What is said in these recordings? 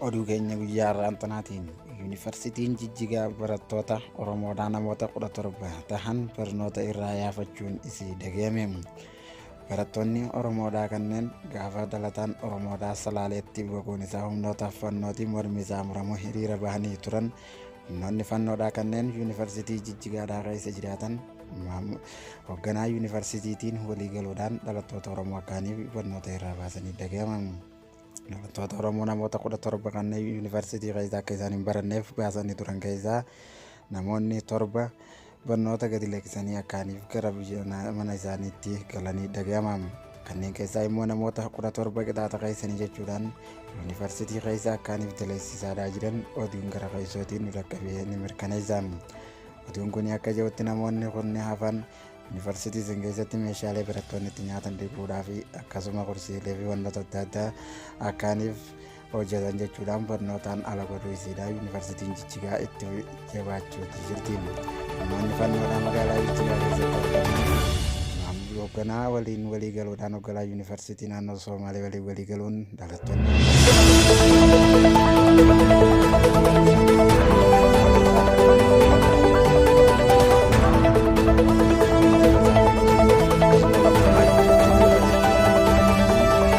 oduu keenya guyyaa har'aan tanaatiin yuunivarsiitiin jijjigaa barattoota oromoodhaa namoota 17 tahan barnoota irraa yaafachuun isii dhagahame barattoonni oromoodhaa kanneen gaafa dhalataan oromoodhaa salaaleetti boquun isaa humnoota fannootiin mormi isaa muramu hiriira bahanii turan Humnoonni fannoodhaa kanneen yuunivarsiitii Jijjigaadhaa keessa jiraatan hoogganaa yuunivarsiitiitiin walii galuudhaan dhalattoota Oromoo kaaniif barnoota irraa baasanii dhagahaman. Dhalattoota Oromoo namoota kudha torba kanneen yuunivarsiitii keessa akka isaan hin baranneef baasanii turan keessaa namoonni torba barnoota gadi lakkisanii akkaaniif gara biyya mana isaaniitti galanii dhaga'ama. Kanneen keessaa immoo namoota 17 qixaaxa keessanii jechuudhaan yuunivarsiitii keessa akkaaniif daleessisaadhaa jiran oduun gara keessootiin nu dhaqqabee ni mirkaneessa. Oduun kun akka jirutti namoonni kunni hafan yuunivarsiitii isin keessatti meeshaalee barattoonni itti nyaatan dhiquudhaa fi akkasuma kursiilee fi wantoota adda addaa akkaaniif hojjetan jechuudhaan barnootaan ala baduu isiidha yuunivarsiitiin jijjigaa itti jabaachuutti jirti namoonni fannoodhaa magaalaa jijjigaa keessatti argaman hoogganaa waliin walii galuudhaan hoogganaa yuunivarsiitii naannoo soomaalee waliin walii galuun dhalattoonni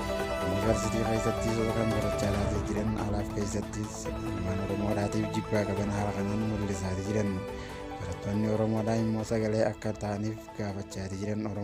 Yuunivarsiitii keessattis warra barachaa laatee jiran alaaf keessattis ilmaan Oromoodhaatiif jibbaa qaban haala kanaan mul'isaa jiran. Barattoonni Oromoodhaa immoo sagalee akka ta'aniif gaafachaa jiran Oromoo.